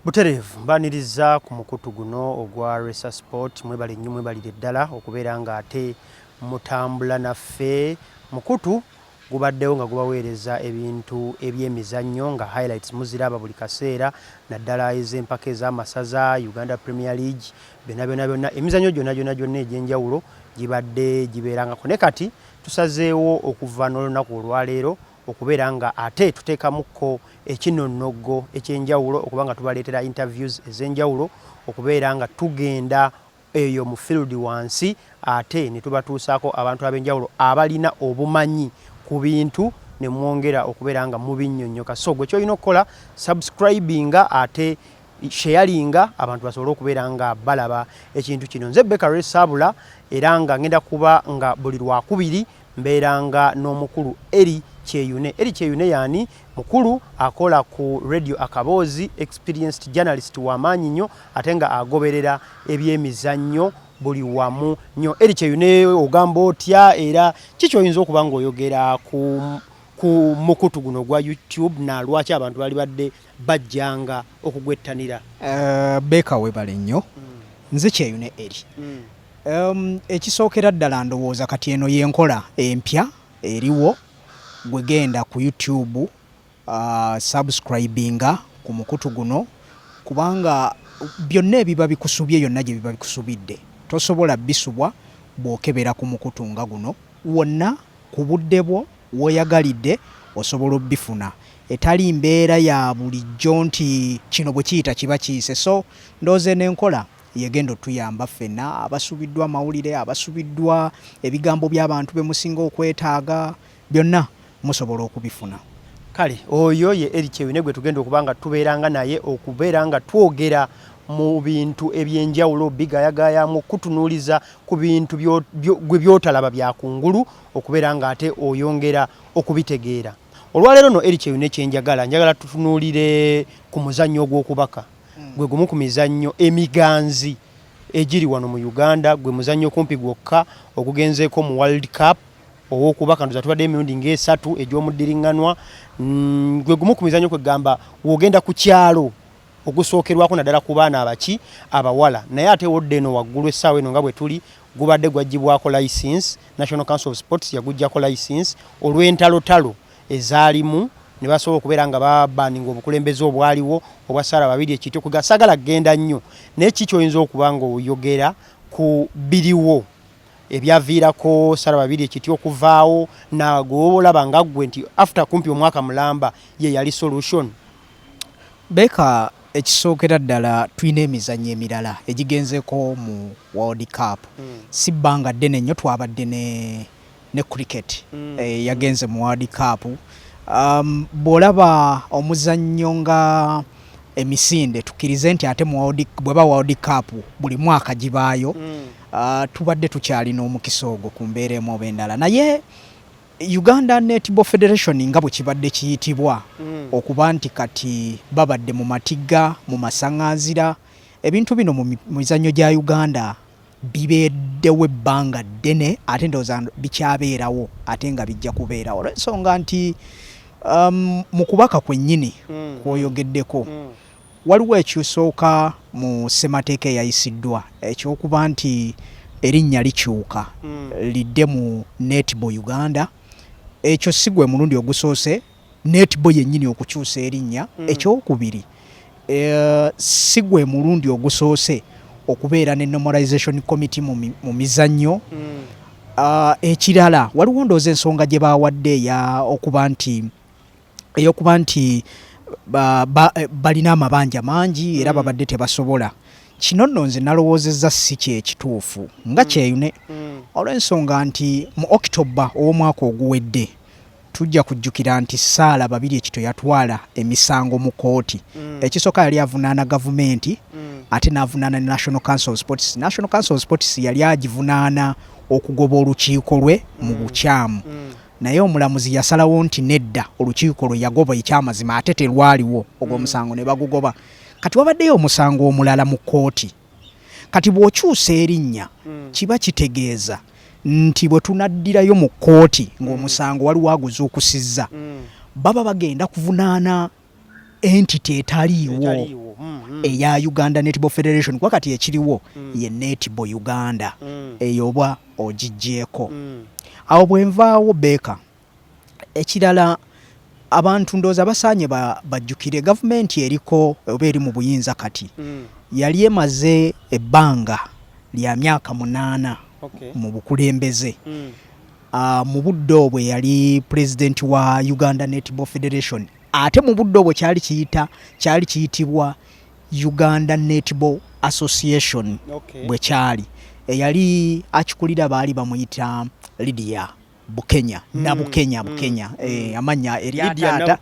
butereevu mbaniriza ku mukutu guno ogwa resa sport mwebale nnyo mwebalire ddala okubeera nga ate mutambula naffe mukutu gubaddewo nga gubaweereza ebintu ebyemizannyo nga highlights muziraba buli kaseera naddala ez'empaka ez'amasaza uganda premier league byona byona byonna emizannyo gyona gyona gyonna egy'enjawulo gibadde gibeerangako ne kati tusazeewo okuva n'olunaku olwaleero okubeera nga ate tuteekamukko ekinonnoggo eky'enjawulo okuba nga tubaleetera interviews ez'enjawulo okubeera nga tugenda eyo mu field wansi ate ne tubatuusaako abantu ab'enjawulo abalina obumanyi ku bintu ne mwongera okubeera nga mubinnyonnyoka so gwe kyolina okukola subscribinga ate sheyalinga abantu basobole okubeera nga balaba ekintu kino nze bekaresaabula era nga ngenda kuba nga buli lwakubiri Mbeeranga n'omukulu Eli Kyeyune. Eli Kyeyune y'ani? Mukulu akola ku Radio Akaboozi, experienced journalist wa maanyi nnyo ate nga agoberera ebyemizannyo buli wamu nnyo. Eli Kyeyune ogamba otya era ki ky'oyinza okuba ng'oyogera ku ku mukutu guno ogwa YouTube na lwaki abantu bali badde bajjanga okugwettanira? Uh, Beeka webale nnyo. Mm. Nze Kyeyune Eli. Mm. Um, ekisookera ddala ndowooza kati eno yenkola empya eriwo gwe genda ku YouTube uh, subscribinga ku mukutu guno kubanga byonna ebiba bikusubye yonna gye biba bikusubidde tosobola bisubwa bw'okebera ku mukutu nga guno wonna ku budde bwo w'oyagalidde osobola obifuna etali mbeera ya bulijjo nti kino bwe kiyita kiba kiyise so ndooze n'enkola Yegenda otuyamba ffena abasubiddwa amawulire, abasubiddwa ebigambo byabantu bemusinga okwetaaga, byonna musobola okubifuna. Kale oyo ye Eli Kyewune gwetugenda okuba nga tubeeranga naye okubeera nga twogera mu bintu ebyenjawulo, obigayagayaamu, okukutunuuliza ku bintu gwe byotalaba bya kungulu okubeera nga ate oyongera okubitegeera. Olwaleero no Eli Kyewune kyenjagala njagala tutunuulire ku muzannyo ogw'okubaka. hmm. gwe gumu ku mizannyo emiganzi egiri wano mu uganda gwe muzannyo okumpi gwokka ogugenzeeko mu world cup owokuba kandoza tubadde emirundi ngaesatu egy'omuddiriŋŋanwa mm, gwe gumu ku mizannyo kwegamba wogenda ku kyalo ogusookerwako naddala ku baana abaki abawala naye ate wodde eno waggulu essaawa eno nga bwe tuli gubadde gwaggyibwako license national council of sports yaguggyako license olw'entalotalo ezaalimu ne basobola okubeera nga babaninga obukulembeze obwaliwo obwa Sarah Babirye Kityo kuga sagala kugenda nnyo naye kiki oyinza okuba ng'oyogera ku biriwo ebyaviirako Sarah Babirye Kityo okuvaawo nagolaba nga ggwe nti after kumpi omwaka mulamba ye yali solution Beka ekisookera ddala tulina emizannyo emirala egigenzeeko mu World Cup hmm. si bbanga ddene nnyo twabadde ne ne cricket mm. eh, yagenze mu World Cup um, bw'olaba omuzannyo nga emisinde tukkirize nti ate bweba world cup buli mwaka gibaayo mm. uh, tubadde tukyalina omukisa ogwo ku mbeera emu oba endala naye uganda netball federation nga bwe kibadde kiyitibwa mm. okuba nti kati babadde mu matigga mu masaŋanzira ebintu bino mu mizannyo gya uganda bibeeddewo ebbanga ddene ate ndowooza bikyabeerawo ate nga bijja kubeerawo olwensonga nti um, mu kubaka kwennyini mm. kwoyogeddeko mm. waliwo ekyusooka mu ssemateeka eyayisiddwa ekyokuba nti erinnya likyuka mm. lidde mu netbo uganda ekyo si gwe mulundi ogusoose Netball yennyini okukyusa erinnya. Ekyokubiri, si gwe mulundi ogusoose okubeera ne Normalization Committee mu mizannyo. Ekirala waliwo ndowooza ensonga gye baawadde okuba nti eyokuba nti Eh, balina amabanja mangi era mm. babadde tebasobola kino nno nze nalowoozezza si kyekituufu nga mm. kyeyune mm. olw'ensonga nti mu okitoba ow'omwaka oguwedde Tujja kujjukira nti Sarah Babirye Kito yatwala emisango mu kkooti. Mm. Ekisooka yali avunaana gavumenti mm. ate n'avunaana ne National Council of Sports. National Council of Sports yali agivunaana okugoba olukiiko lwe mu mm. bukyamu. Mm. Naye omulamuzi yasalawo nti nedda olukiiko lwe yagoba ekyamazima ate terwaliwo ogwo mm. omusango mm. ne bagugoba. Kati wabaddeyo omusango omulala mu kkooti. kati bw'okyusa erinnya hmm. kiba kitegeeza nti bwe tunaddirayo mu kkooti ng'omusango hmm. waliwo aguzuukusizza hmm. baba bagenda kuvunaana entity etaliiwo eya uganda netball federation kuba kati ekiriwo ye netball uganda eyo oba ogiggyeko awo bwe nvaawo beeka Ekirala abantu ndowooza basaanye bajjukire gavumenti eriko oba eri mu buyinza kati mm. yali emaze ebbanga lya myaka munaana mu bukulembeze mm. ah, mu budde obwe yali pulezidenti wa uganda netball federation ate mu budde obwo kyali kiyita kyali kiyitibwa uganda netball association bwe kyali eyali akikulira baali bamuyita lidiya Bukenya mm, na Bukenya mm, Bukenya mm, eh, amanya erya taata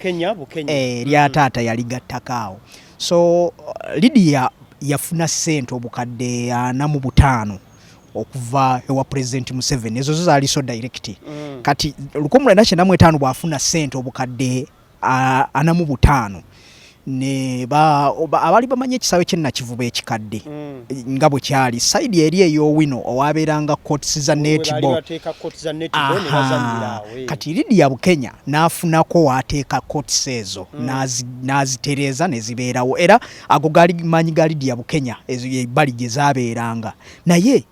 eh, erya mm. taata yali gattakaawo so uh, Lydia yafuna sente obukadde ana mu butaano okuva ewa president Museveni ezo zo zaali so direct mm. kati lukomulana kyenamwetaano bwafuna sente obukadde ana mu butaano ne ba abali bamanyi ekisaawe kye nakivuba ekikadde mm. nga bwe kyali sayidi eri ey'owino owabeeranga cots za netball kati lidia bukenya n'afunako waateeka cots ezo mm. n'azitereeza ne zibeerawo era ago gaali maanyi ga lidia bukenya ezo ebbali gye zabeeranga naye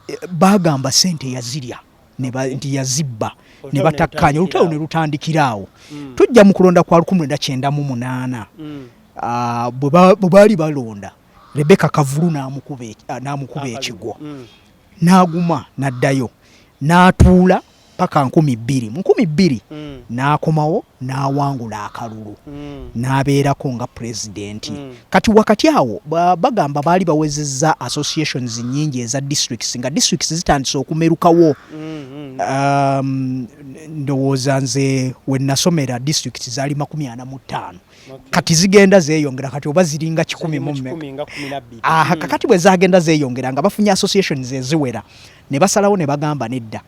eh, bagamba sente yazirya nti yazibba ne batakkaanya olutalo ne lutandikira awo mm. tujja mu kulonda kwa 1998 mm. ah, bwe baali balonda rebeka kavulu n'amukuba e, ah, ekigwo mm. n'aguma n'addayo n'atuula paka nkumi bbiri mu nkumi bbiri n'akomawo n'awangula akalulu n'abeerako nga pulezidenti Kati wakati awo bagamba baali bawezezza associations nyingi eza districts nga districts zitandise okumerukawo mm-hmm. um, ndowooza nze wenasomera districts zaali makumi ana mu ttaano kati zigenda zeyongera kati oba ziringa kikumi mumeaha kakati bwe zagenda zeyongera nga bafunye associations eziwera ne basalawo ne bagamba nedda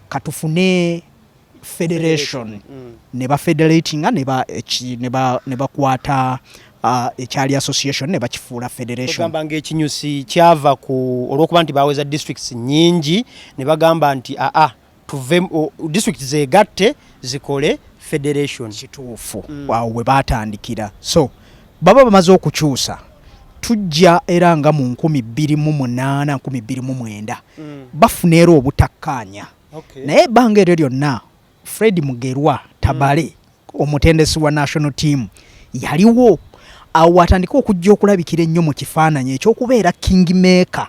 katufune federation mm. ne ba federatinga ne ba ne ba ne bakwata uh, ekyali association ne bakifuula federation bagamba nga ekinyusi kyava ku olwokuba nti baweza districts nyingi ne bagamba nti a a tuve uh, district zegatte zikole federation kituufu mm. awo we batandikira so baba bamaze okukyusa tujja era nga mu 2 2 9 2 9 bafuna era obutakkaanya okay. naye ebbanga eryo lyonna fred mugerwa tabale mm. omutendesi wa national team yaliwo awo atandika okujja okulabikira ennyo mu kifaananyi ekyokubeera king maker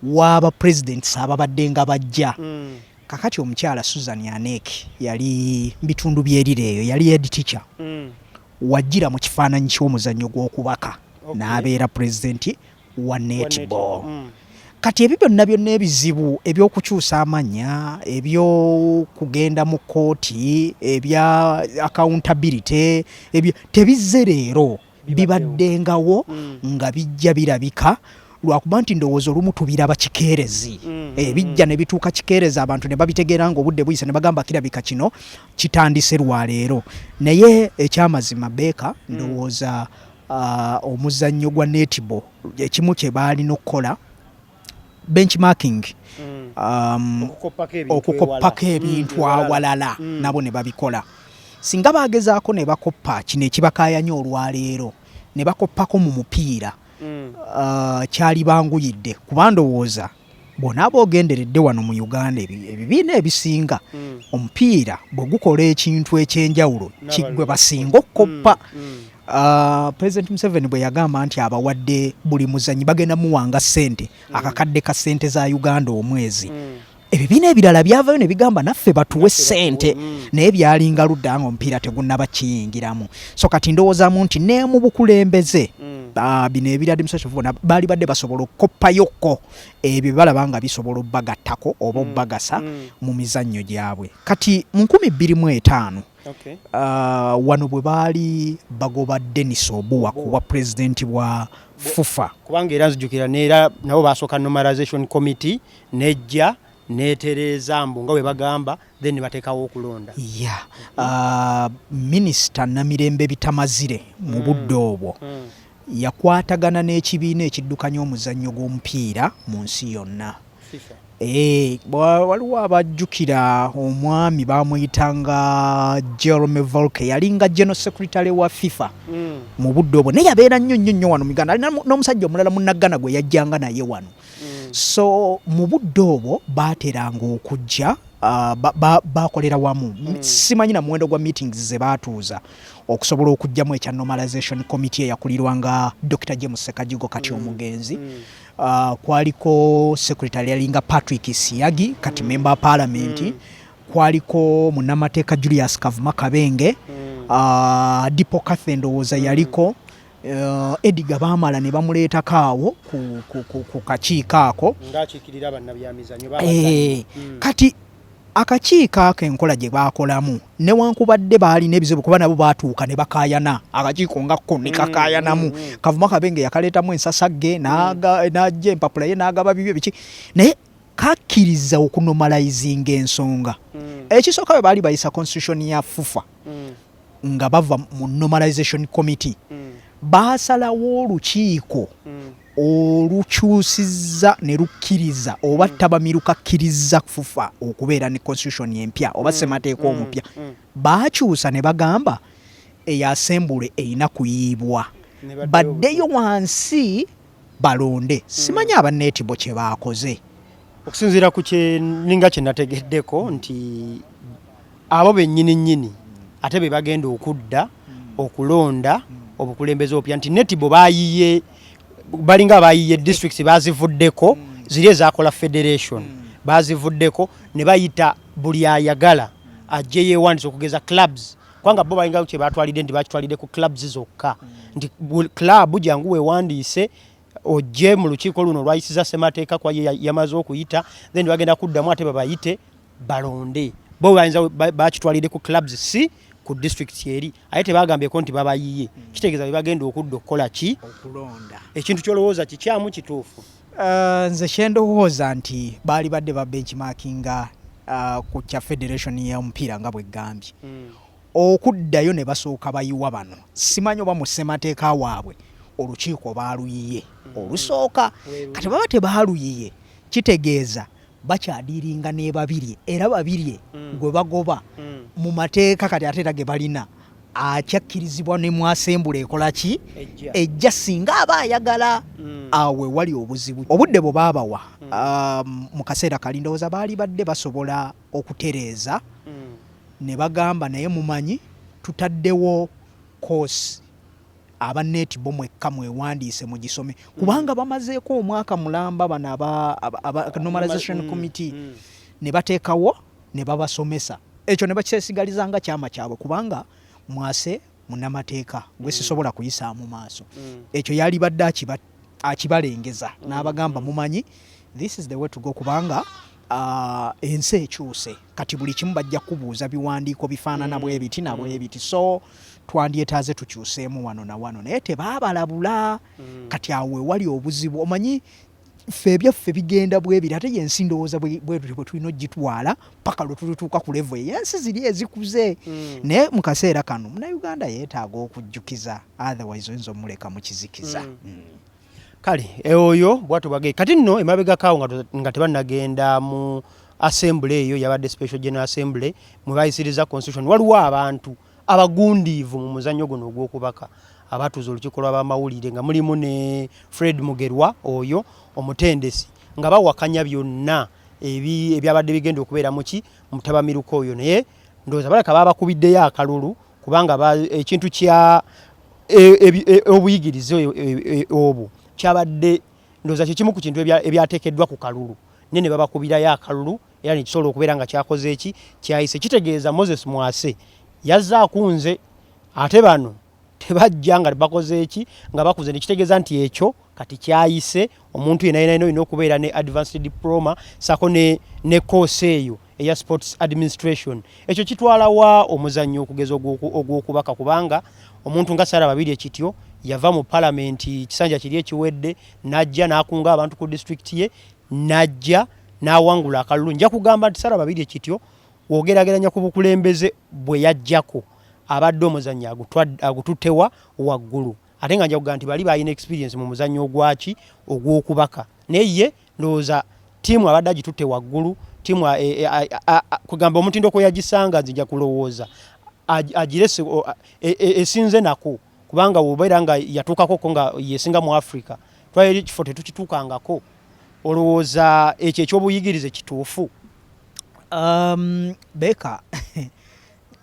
waba presidents ababadde nga bajja mm. kakati omukyala susan anek yali bitundu byerire eyo yali ed teacher mm. wajjira mu kifaananyi ky'omuzannyo gw'okubaka okay. n'abeera pulezidenti wa netball kati ebyo byonna byonna ebizibu ebyokukyusa amanya ebyokugenda mu kooti ebya accountability ebyo tebizze leero bibaddengawo mm. nga bijja birabika lwakuba nti ndowooza olumu tubira bakikeerezi mm, eh, mm. bijja ne bituuka kikeerezi abantu ne babitegeera nga obudde buyise ne bagamba kirabika kino kitandise lwaleero naye ekyamazima beeka mm. ndowooza omuzannyo gwa netball ekimu kye baalina okukola benchmarking mm. um, okukoppako ebintu mm, awalala mm. nabo ne babikola singa bagezaako ne bakoppa kino ekibakayanya olwaleero ne bakoppako mu mupiira uh, kyali banguyidde kuba ndowooza bw'onaaba ogenderedde wano mu uganda ebibiina ebisinga mm. omupiira bwe gukola ekintu eky'enjawulo kigwe basinga okukoppa mm, mm. ah, president museveni bwe yagamba nti abawadde buli muzanyi bagenda muwanga ssente akakadde ka ssente za uganda omwezi ebibiina ebirala byavayo ne bigamba naffe batuwe ssente naye byalinga ludda nga omupiira tegunnaba kiyingiramu so kati ndowoozamu nti ne mu bukulembeze mm. ah, bino ebiri administration bona baali badde basobola okukoppayokko ebyo balaba nga bisobola obagattako oba mm. obagasa mm. mu mizannyo gyabwe kati mu nkumi bbiri mu etaano ah, wano bwe baali bagoba denis obuwa kuwa pulezidenti bwa fufa kubanga era nzijukira neera nabo basooka normalization committee nejja netereeza mbu nga bwe bagamba then batekawo okulonda ya ah, minisita namirembe bitamazire mu mm. budde obwo mm. yakwatagana n'ekibiina ekiddukanya omuzannyo gw'omupiira mu nsi yonna eh, waliwo abajjukira omwami bamuyitanga jerome volke yalinga general secretary wa fifa mm. mu budde obwo naye yabeera nnyo nnyo nnyo wano muganda ali n'omusajja omulala munaggana gwe yajjanga naye wano mm. so mu budde obwo baateranga okujja uh, bakolera ba, ba wamu mm. simanyi na muwendo gwa meetings ze baatuuza okusobola okujjamu ekya normalization committee eyakulirwanga dr james sekajigo kati mm. omugenzi mm. Uh, kwaliko secretary yalinga patrick siyagi kati mm. member parliament mm. kwaliko munamateeka julius kavuma kabenge mm. uh, dipo cathe ndowooza mm. yaliko Uh, Edgar Bamala ne bamuleetako awo ku, ku, ku, ku kakiiko ako ng'akiikirira bannabyamizanyo eh, hmm. kati akakiiko ako enkola gye baakolamu newankubadde baalina ebizibu kuba nabo baatuuka ne bakaayana akakiiko nga ko ne hmm, kakaayanamu hmm, hmm. kavuma kabenge yakaleetamu ensasagge n'ajja empapula ye n'agaba bibyo biki naye kakkiriza okunomalayizinga ensonga ekisooka bwe baali bayisa constitution ya fufa nga bava mu normalization committee mm. baasalawo olukiiko mm. olukyusiza ne lukkiriza oba mm. tabamiruka kkiriza fufa okubeera ne constitution empya oba mm. semateeka mm. omupya mm. baakyusa ne bagamba eyo asembule erina kuyiibwa baddeyo wansi balonde hmm. simanyi aba netibo kyebaakoze okusinziira ku kyeninga kyenategeddeko hmm. nti abo bennyini nnyini hmm. ate be bagenda okudda okulonda obukulembeze obupya nti netibo bayiye balinga bayiye district bazivuddeko ziri ezakola federation bazivuddeko ne bayita buli ayagala ajje yeewandisa okugeza clubs kubanga bo balinga kye batwalidde nti bakitwalidde ku clubs zokka nti club jangu wewandiise ojje mu lukiiko luno olwayisiza ssemateeka kwa yamaze okuyita then bagenda kuddamu ate babayite balonde bo bayinza bakitwalidde ku clubs si ku district eri aye tebagambyeko nti babayiye kitegeeza bebagenda okudda okukola ki ekintu kyolowooza kikyamu kituufu Uh, nze kyendowooza nti baali badde ba benchmarkinga uh, ku kya federation y'omupiira nga bweggambye mm. okuddayo ne basooka bayiwa bano simanyi oba mu ssemateeka waabwe olukiiko baaluyiye mm. olusooka kati baba tebaaluyiye kitegeeza bakyadiiringa n'ebabirye era babirye mm. gwe bagoba mm. mu mateeka kati ate era ge balina akyakkirizibwa ne mwasembula ekola ki ejja singa aba ayagala mm. awe wali obuzibu obudde bwe baabawa mm. um, mu kaseera kali ndowooza baali badde basobola okutereeza mm. ne bagamba naye mumanyi tutaddewo koosi Aba Nneeti bo mwekka mwewandiise mugisome kubanga mm. bamazeeko omwaka mulamba bano aba Normalization mm. Committee mm. ne bateekawo ne babasomesa ekyo ne bakyesigaliza nga kyama kyabwe kubanga mwase munamateeka gwe sisobola kuyisaamu maaso ekyo yalibadde akibatta akibalengeza n'abagamba mumanyi this is the way to go kubanga uh, ensi ekyuse kati buli kimu bajja kubuuza biwandiiko bifaanana mm. bwe biti na bwe mm. biti so twandyetaaze tukyuseemu wano na wano naye tebaabalabula mm. kati awo wewali obuzibu omanyi ffe ebyaffe bigenda bwebiri ate yensi ndowooza bwetutyo bwe tulina ogitwala paka lwetututuuka ku levo eyensi ziri ezikuze mm. naye mu kaseera kano munauganda yeetaaga okujjukiza otherwise oyinza omuleka mu kizikiza mm. Mm. kale e oyo bwatyo bwage kati nno emabegakaawo nga tebanagenda mu assembly eyo yabadde special general assembly mwebayisiriza constitution waliwo abantu Abagundiivu mu muzannyo guno ogw'okubaka abatuuza olukiiko lw'abamawulire nga mulimu ne Fred Mugerwa oyo omutendesi nga bawakanya byonna ebyabadde bigenda okubeera muki mutabamiruka oyo naye ndowooza balaka babakubiddeyo akalulu kubanga ekintu kya e, e, e, obuyigirize obwo kyabadde ndowooza kyekimu ku kintu ebyateekeddwa ku kalulu naye ne babakubirayo akalulu Era nekisobola okubeera nga kyakoze eki kyayise kitegeeza Moses Mwase yazze akunze ate bano tebajja nga bakoze eki nga bakuze nekitegeeza nti ekyo kati kyayise omuntu yena yenaina olina okubeera ne advanced diploma sako ne, ne course eyo eya sports administration ekyo kitwala wa omuzannyo okugeza ogwokubaka kubanga omuntu nga sara babiri ekityo yava mu palamenti kisanja kiri ekiwedde najja nakunga abantu ku disitulikiti ye najja n'awangula akalulu nja kugamba nti sara babirye kityo wogerageranya ku bukulembeze bwe yajjako abadde omuzannyo agututewa waggulu ate nga njakuga nti bali balina experience mu muzannyo ogwaki ogw'okubaka naye ye ndowooza ttiimu abadde agitutte waggulu ttiimu e, e, kugamba omutindo kwe yagisanga nze nja kulowooza agirese e, esinze nako kubanga wobeera nga yatuukako ko nga yesinga mu africa twali ekifo tetukituukangako olowooza ekyo ekyobuyigirize kituufu um, beka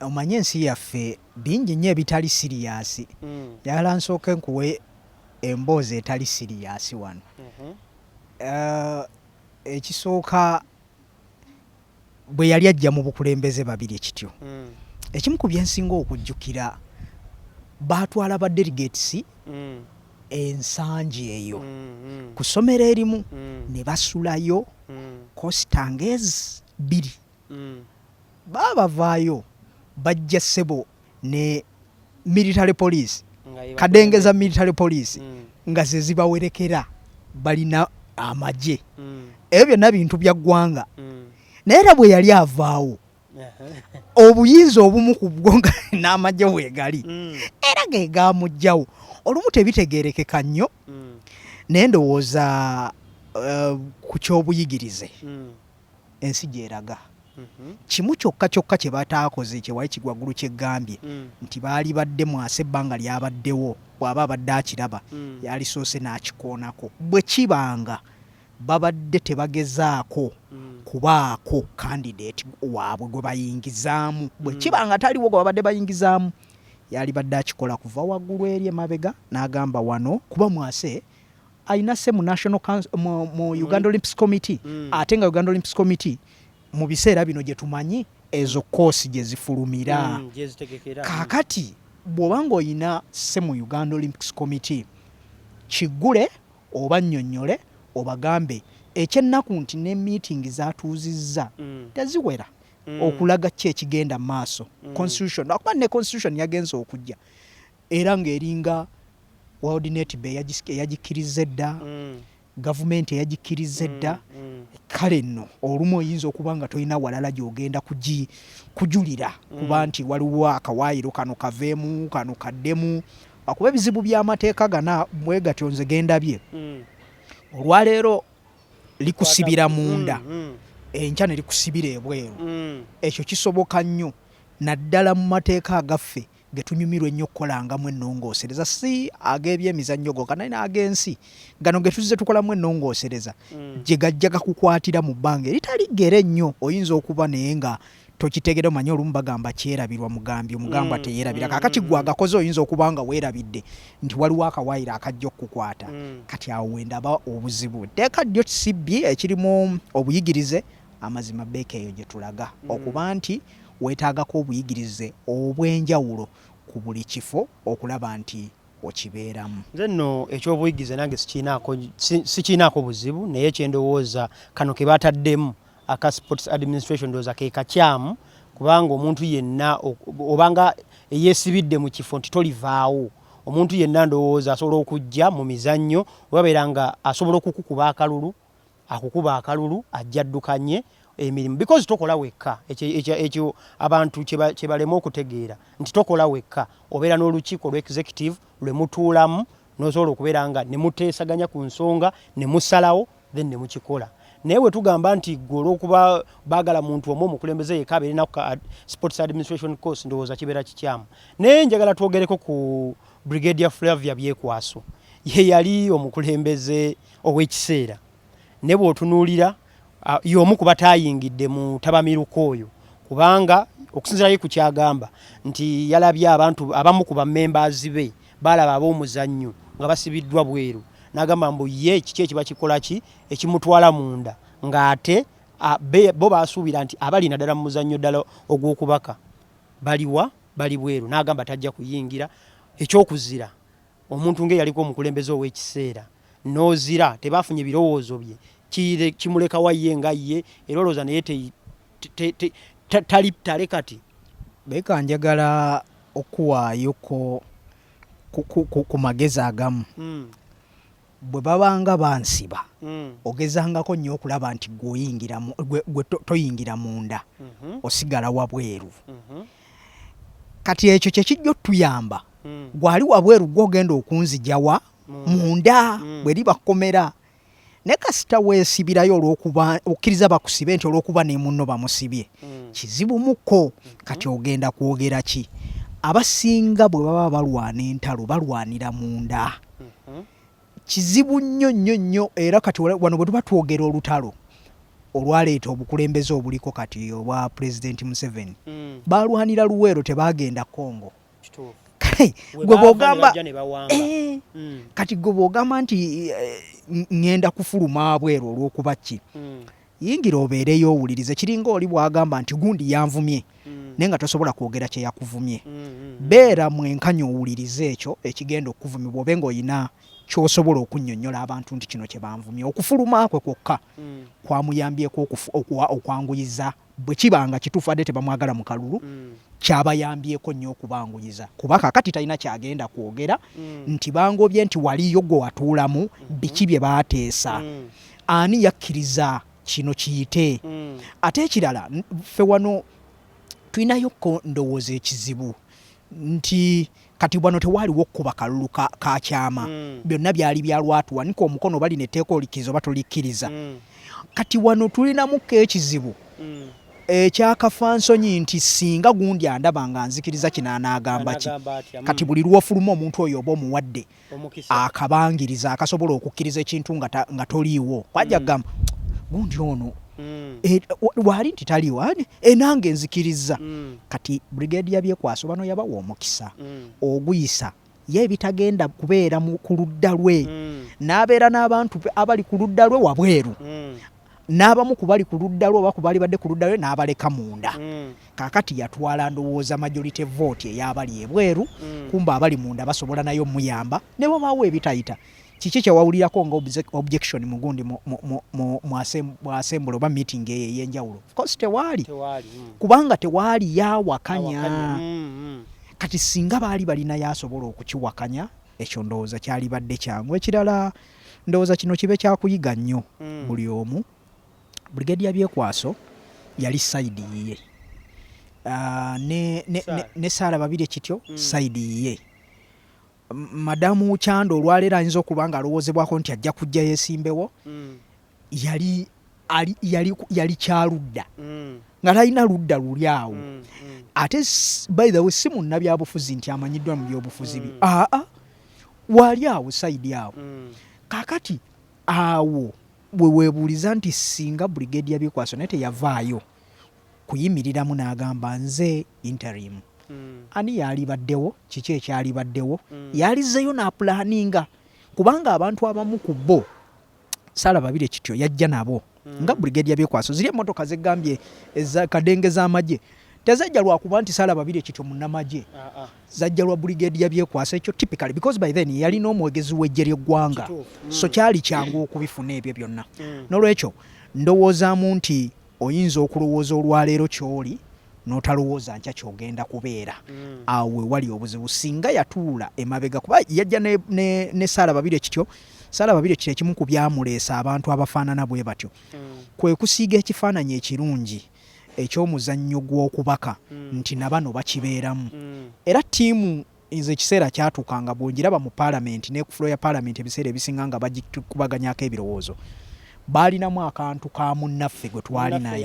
omanye ensi yaffe bingi nnyo ebitali siriyasi mm. yala nsooke nkuwe emboozi etali siriyasi wano mm -hmm. uh, ekisooka bwe yali ajja mu bukulembeze babiri ekityo mm. ekimu ku byensinga okujjukira baatwala ba delegates mm. ensangi eyo mm, mm. ku ssomero erimu mm. ne basulayo mm. kositangezi bbiri mm. baabavaayo bajja ssebo ne military police kadengeza military police mm. nga zezibawerekera balina amagye mm. ebyo byonna bintu bya ggwanga mm. naye era bwe yali avaawo obuyinza obumu ku bwo nga n'amagye weegali era ge gaamugjawo olumu tebitegeerekeka nnyo naye ndowooza eh, ku ky'obuyigirize ensi gy'eraga. Kimu kyokka kyokka kye bataakoze kye Waiki Gwagulu kye gambye nti baalibadde mwasa ebbanga ly'abaddewo bw'aba abadde akiraba yaalisoose n'akikoonako. Bwe kiba nga babadde tebagezaako kubaako kandideti waabwe gwe bayingizaamu, bwe kiba nga taliwo gwe babadde bayingizaamu yaalibadde akikola kuva waggulu eri emabega n'agamba wano kuba mwase alina se mu national council mu, mu mm. Uganda Olympics Committee mm. ate nga Uganda Olympics Committee mu biseera bino gye tumanyi ezo koosi gye zifulumira mm, mm. kaakati bw'oba ng'olina se mu Uganda Olympics Committee kiggule oba nnyonnyole obagambe ekyennaku nti ne meeting zatuuzizza mm. teziwera mm. okulaga ki ekigenda maaso mm. constitution akuba ne constitution yagenza okujja era ng'eringa WorldNet be eyagikkirizza edda mm. gavumenti eyagikkirizza edda mm, mm. kale nno olumu oyinza okuba nga tolina walala gy'ogenda kujulira kuba nti waliwo akawaayiro kano kaveemu kano kaddemu akuba ebizibu by'amateeka gana bwe gatyo nze gendabye olwaleero likusibira munda enkya ne likusibira ebweru ekyo kisoboka nnyo naddala mu mateeka agaffe ge tunyumirwa ennyo okukolangamu ennongoosereza si ag'ebyemizannyo goka naye n'ag'ensi gano ge tuzze tukolamu ennongoosereza mm. gye gajja gakukwatira mu bbanga eritali ggere ennyo oyinza okuba naye nga tokitegera omanyi olumu bagamba kyerabirwa mugambi omugamba mm, teyerabira mm, kakati mm, gwe agakoze oyinza okuba nga weerabidde nti waliwo akawaayiro akajja okukukwata kati awo wendaba obuzibu teeka ddyo kisibbi ekirimu obuyigirize Amazima beeka eyo gye tulaga mm. okuba nti weetaagako obuyigirize obw'enjawulo ku buli kifo okulaba nti okibeeramu. Nze nno eky'obuyigirize nange sikiinaako buzibu naye kyendowooza kano ke bataddemu aka sports administration ndowooza ke kakyamu kubanga omuntu yenna obanga eyeesibidde mu kifo nti tolivaawo omuntu yenna ndowooza asobola okujja mu mizannyo webabeera nga asobola okukukuba akalulu akukuba akalulu ajja addukanye emirimu because tokola wekka ekyo abantu kyebalema okutegeera nti tokola wekka obeera n'olukiiko lwe executive lwe mutuulamu nosobola okubeera nga ne muteesaganya ku nsonga ne musalawo then ne mukikola naye bwe tugamba nti gwe olwokuba baagala muntu omu omukulembeze yeka abeere na sports administration course ndowooza kibeera kikyamu naye njagala twogereko ku brigadier flavia byekwaso ye yali omukulembeze ow'ekiseera ne bw'otunuulira y'omu ku bataayingidde mu tabamiruka oyo kubanga okusinzira ye ku kyagamba nti yalabye abantu abamu ku bamembaazi be baalaba ab'omuzannyo nga basibiddwa bweru n'agamba mbu ye kiki ekiba kikola ki ekimutwala munda ng'ate bo baasuubira nti abali naddala mu muzannyo ddala ogw'okubaka baliwa bali bweru n'agamba tajja kuyingira eky'okuzira omuntu ng'eyaliko omukulembeze ow'ekiseera n'ozira tebaafunye birowoozo bye kimulekawa ye nga ye era olowooza naye tali tale kati beeka njagala okuwaayoko ku magezi agamu hmm. Bwe babanga bansiba, ogezangako nnyo okulaba nti gwe toyingira munda, mhm. osigala wabweru. Mhm. Kati ekyo kye kijja otuyamba. Mm. Gwali wabweru gwe ogenda okunzijawa mm. munda mm. bwe liba kkomera. Naye kasita weesibirayo olw'okuba okkiriza bakusibe nti olw'okuba ne munno bamusibye kizibu muko mm-hmm. kati ogenda kwogera ki? Abasinga bwe baba balwana entalo balwanira munda. mhm. kizibu nnyo nnyo nnyo era kati wano bwe tuba twogera olutalo olwaleeta obukulembeze obuliko kati obwa pulezidenti museveni mm. balwanira luweero tebagenda congo kale gwe bwogamba eh, mm. kati gwe bwogamba nti eh, ŋŋenda kufuluma abweru olw'okuba ki mm. Yingira obeereyo owulirize. Kiringa oli bw'agamba nti gundi yanvumye naye nga tosobola kwogera kye yakuvumye. Beera mwenkanya owulirize ekyo ekigenda okukuvumibwa obe ng'olina ky'osobola okunnyonnyola abantu nti kino kye banvumye. Okufuluma kwe kwokka kwamuyambyeko okwanguyiza bwe kiba nga kituufu adde tebamwagala mu kalulu kyabayambyeko nnyo okubanguyiza kuba kakati talina kyagenda kwogera mm. nti bangobye nti waliyo gwe watuulamu mm-hmm. biki bye baateesa mm. ani yakkiriza kino kiyite mm. ate ekirala ffe wano tulinayo ko ndowooza ekizibu nti kati wano tewaaliwo okukuba kalulu ka kyama mm. byonna byali bya lwatu wanika omukono oba lino etteeka olikkiriza oba tolikkiriza mm. kati wano tulinamukko ekizibu mm. ekyakafa nsonyi nti singa gundi andaba nga nzikiriza kino anaagamba ki kati buli lwofuluma omuntu oyo oba omuwadde akabangiriza akasobola okukkiriza ekintu nga toliiwo kwajja mm. gamba gundi ono mm. e, waali nti taliiwo enange nzikiriza mm. kati brigade yabyekwasa bano yabawa omukisa oguyisa ye ebitagenda kubeera ku ludda lwe n'abeera n'abantu abali ku ludda lwe wabweru n'abamu ku bali ku ludda lwe oba ku baali badde ku ludda lwe n'abaleka munda mm. kaakati yatwala ndowooza majority vote ey'abali ebweru mm. kumba abali munda basobola nayo omuyamba ne bwebaawo ebitayita kiki kyewawulirako nga objection mugundi mwasembula oba meeting eyo ey'enjawulo ofcourse tewaali mm. kubanga tewaali yawakanya kati singa baali balina yasobola okukiwakanya ekyo ndowooza kyali badde kyangu ekirala mm. Ndowooza kino kibe kyakuyiga nnyo mm. buli omu. Brigadier Byekwaso yali sayidi yiye ah, ne Saala Babirye kityo mm. sayidi yiye madamu Kyanda olwaleero ayinza okuba nga alowoozebwako nti ajja kujja yesimbewo mm. yali ali yali yali kyaludda mm. nga talina ludda luli awo mm, mm. ate by the way si munnabyabufuzi nti amanyiddwa mu byobufuzi bi mm. aa ah, ah. waali awo saidi awo mm. kakati awo wewebuuliza nti singa brigade yabikwaso naye teyavaayo kuyimiriramu n'agamba nze interim mm. ani yaalibaddewo kiki ekyalibaddewo mm. yalizeyo n'apulaninga kubanga abantu abamu ku bo sala babire kityo yajja nabo mm. nga brigadier byekwaso ziri emotoka zegambye eza kadenge za maje tezajja lwa kuba nti sala babire kityo munamaje uh ah, -uh. Ah. zajja lwa brigadier byekwaso ekyo typically because by then yali no mwegezi wejje lye gwanga mm. so kyali kyangu mm. okubifuna ebyo byonna mm. nolwekyo ndowooza mu nti oyinza okulowooza olwaleero kyoli notalowooza nkya kyogenda kubeera mm. awe wali obuzibu singa yatuula emabega kuba yajja ne, ne, ne saala babiri ekityo Sala Babirye kye kimu ku byamuleesa abantu abafaanana bwe batyo hmm. kwe kusiiga ekifaananyi ekirungi eky'omuzannyo gw'okubaka hmm. nti na bano bakibeeramu hmm. era ttiimu nze ekiseera kyatuuka nga bwongiraba mu paalamenti ne ku fulo ya paalamenti ebiseera ebisinga nga bagikubaganyako ebirowoozo baalinamu akantu ka munnaffe gwe twali naye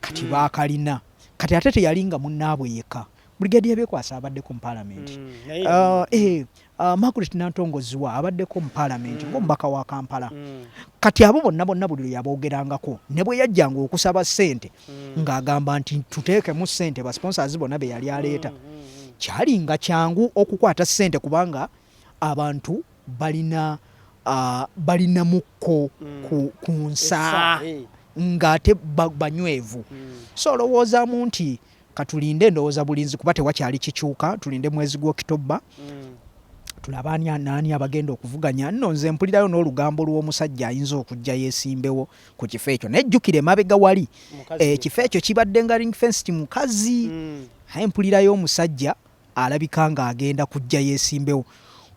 kati baakalina kati ate teyali nga munnaabwe yekka Brigadier Byekwasa abaddeko mu Palamenti. Mm, uh, eh, uh, Margaret Nantongo Zziwa abaddeko mu Palamenti mm. ng'omubaka wa Kampala. Mm. Kati abo bonna bonna buli lwe yaboogerangako ne bwe yajjanga okusaba ssente mm. ng'agamba nti tuteekemu ssente basponsors bonna be yali aleeta. Mm, mm, mm. Kyali nga kyangu okukwata ssente kubanga abantu balina uh, balina mukko mm. ku, ku nsa eh. ng'ate banywevu. Mm. So olowoozamu nti Katulinde ndowoza bulinzi kuba tewakyali kikyuka tulinde mwezi gwokitobba mm. tulaba ani anaani abagenda okuvuganya nno nze mpulirayo n'olugambo lw'omusajja ayinza okujja yesimbewo ku kifo ekyo naye jjukira emabega wali ekifo eh, ekyo kibadde nga ring fenced mukazi mm. aye mpulirayo omusajja alabika nga agenda kujja yesimbewo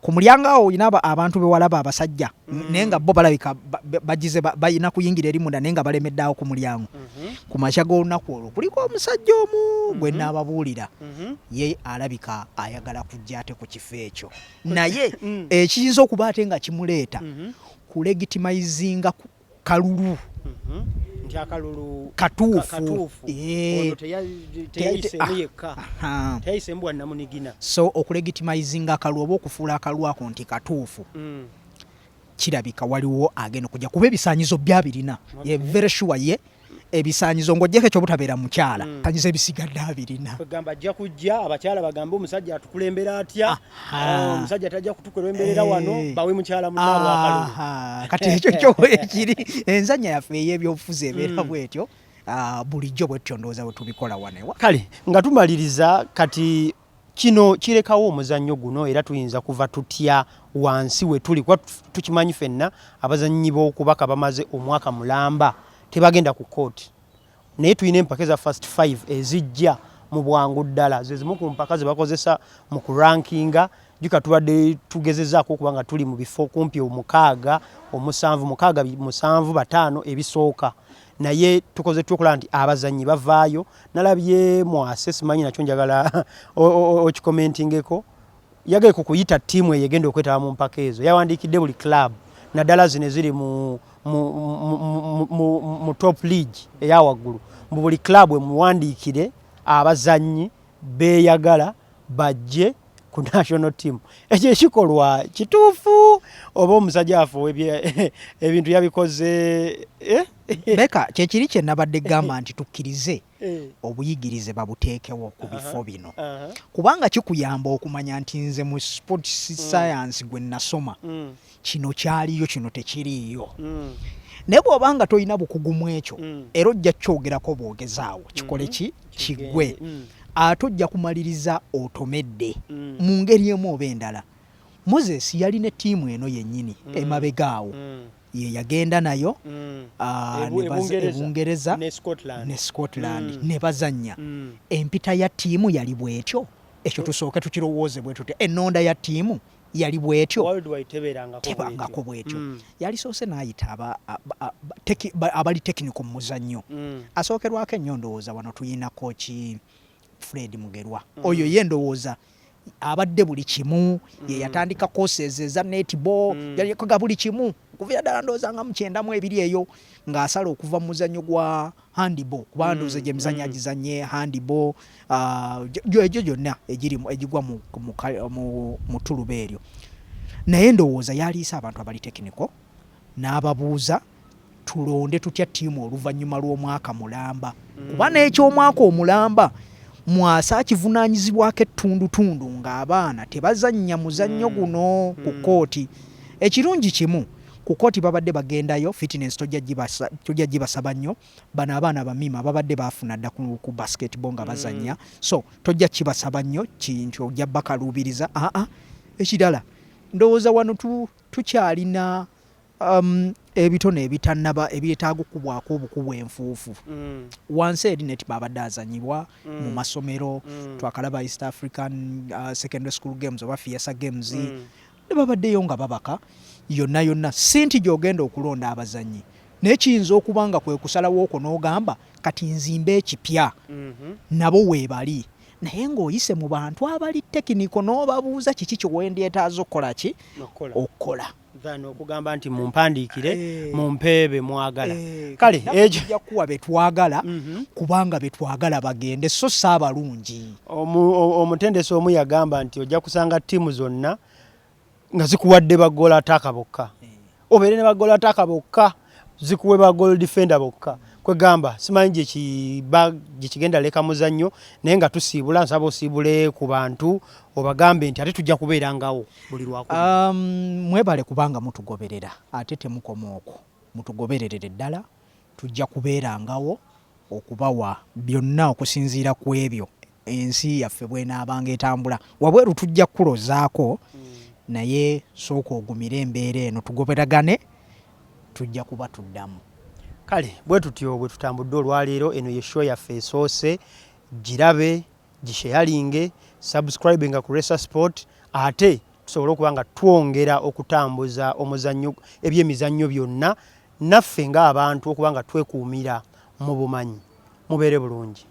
kumulyango awo olina abantu bewalaba abasajja mm. naye nga bo balabika bagize balina kuyingira eri munda naye nga balemeddeawo ku mulyango mm-hmm. ku makya g'olunaku olwo kuliko omusajja omu mm-hmm. gwe naababuulira mm-hmm. ye alabika ayagala kujja ate ku kifo ekyo naye mm. ekiyinza okuba ate nga kimuleeta kulegitimayizinga kalulu nti akalulu katuufu eh. ah, so okulegitimizinga akalulu oba okufuula akalulu ako nti katuufu mm. kirabika waliwo agenda okujja kuba ebisanyizo byabirina very sure ye ebisanyizo ng'ogyeko ekyobutabeera mukyala mm. sanyizo ebisigadde abirina gamba ajja kujja abakyala bagambe omusajja atukulembera atya ah, omusajja tajja kutukulemberera eh. wano bawe mukyala munaabwakalulu kati ekyo kyo ekiri enzanya yaffe ey'ebyobufuzi ebeera mm. bwetyo ah, bulijjo bwetyo ndowooza bwe tubikola wanewa kale nga tumaliriza kati Kino kirekawo omuzannyo guno era tuyinza kuva tutya wansi we tuli kuba tukimanyi fenna abazannyi b'okubaka bamaze omwaka mulamba tebagenda ku kkooti naye tulina empaka eza first five ezijja mu bwangu ddala ze zimu ku mpaka ze bakozesa mu kurankinga juka tubadde tugezezaako okuba nga tuli mu bifo kumpi omukaaga omusanvu mukaaga musanvu bataano ebisooka naye tukoze tutya okulaba nti abazannyi bavaayo nalabye mwase simanyi nakyo njagala okikomentingeko yagaye ku kuyita ttiimu eyo egenda okwetaba mu mpaka ezo yawandiikidde buli club naddala zino eziri mu, mu, mu, mu, mu, mu top league eya waggulu mu buli club emuwandiikire abazannyi beeyagala bajje ku national team ekyo ekikolwa kituufu oba omusajja afuwe ebintu yabikoze eh? beka kyekiri kye nabadde gamba nti tukkirize eh. obuyigirize babuteekewo ku bifo bino kubanga kikuyamba okumanya nti nze mu sports mm. science gwe nasoma mm. kino kyaliyo kino tekiriiyo mm. naye bw'oba nga tolina bukugu mu ekyo mm. era ojja kukyogerako bwogezaawo kikole ki mm-hmm. kigwe mm. ate ojja kumaliriza otomedde mm. mu ngeri emu oba endala moses yali ne ttiimu eno yennyini mm. emabega awo mm. ye yagenda nayo mm. ah, ebungereza e ne scotland mm. ne bazannya mm. empita ya ttiimu yali bwetyo ekyo tusooke tukirowooze bwe tutya ennonda ya ttiimu yali bwetyo tebangako bwetyo mm. yali soose nayita abali tekiniko mu muzannyo mm. asookerwako ennyo ndowooza wano tuyina koki fred mugerwa mm. oyo ye ndowooza abadde buli kimu mm. yeyatandika koses eza netball mm. yalikoga buli kimu okuvira ddala ndowooza nga mukyendamu ebiri eyo ng'asala okuva mu muzannyo gwa mm. handball kubanga mm, ndoza gyemizanya mm. agizanye handball ah, egyo gyonna egiri egigwa mu tuluba eryo naye ndowooza yaliisa abantu abali tekiniko n'ababuuza tulonde tutya tiimu oluvannyuma lw'omwaka mulamba mm. kuba n'ekyomwaka omulamba mwasa akivunanyizibwako ettundutundu ng'abaana tebazannya muzannyo guno ku kkooti ekirungi kimu mm. Ku kooti babadde bagendayo fitness tojja gibasaba nnyo. Bano abaana bamima babadde bafuna dda ku basketball nga bazanya mm. so tojja kibasaba nnyo kintu ojja bakaluubiriza aa ah, ah. ekirala ndowooza wano tukyalina um, ebitone ebitanaba ebyetaaga okukubwako obukubu enfuufu mm. wansi eri neti babadde azanyibwa mm. mu masomero mm. twakalaba east african uh, secondary school games oba fiesa games mm. ne babaddeyo nga babaka yonna yonna si nti gy'ogenda okulonda abazannyi naye kiyinza okuba nga kwe kusalawo okwo n'ogamba kati nzimba ekipya mhm. nabo weebali naye ng'oyise mu bantu abali tekiniko n'obabuuza kiki kyewendyetaaza okukola ki okukola than okugamba nti mumpandiikire eh. mumpeebe mwagala eh, kale ekyokuwa betwagala mhm. kubanga betwagala bagende so si abalungi Omutendesi omu yagamba nti ojja kusanga ttiimu zonna nga zikuwadde bagoola ataaka bokka eh. obeere ne bagoola ataaka bokka zikuwe bagool defender bokka kwegamba simanyi gyekigenda leka muzannyo naye nga tusiibula nsaba osiibule ku bantu obagambe nti ate tujja kubeera ngawo buli lwaku um, mwebale kubanga mutugoberera ate temukoma okwo mutugobererere ddala Tujja kubeerangawo okubawa byonna okusinziira ku ebyo ensi yaffe bw'enaabanga etambula. Wabweru tujja kukulozaako naye sooka ogumire embeera eno tugoberagane tujja kuba tuddamu. Kale bwe tutyo bwe tutambudde olwaleero. Eno ye show yaffe esoose. Girabe, gisheyalinge, subscribinga ku Resa Sport ate tusobole okuba nga twongera okutambuza omuzannyo ebyemizannyo byonna Naffe nga abantu okuba nga twekuumira mu bumanyi mubeere bulungi.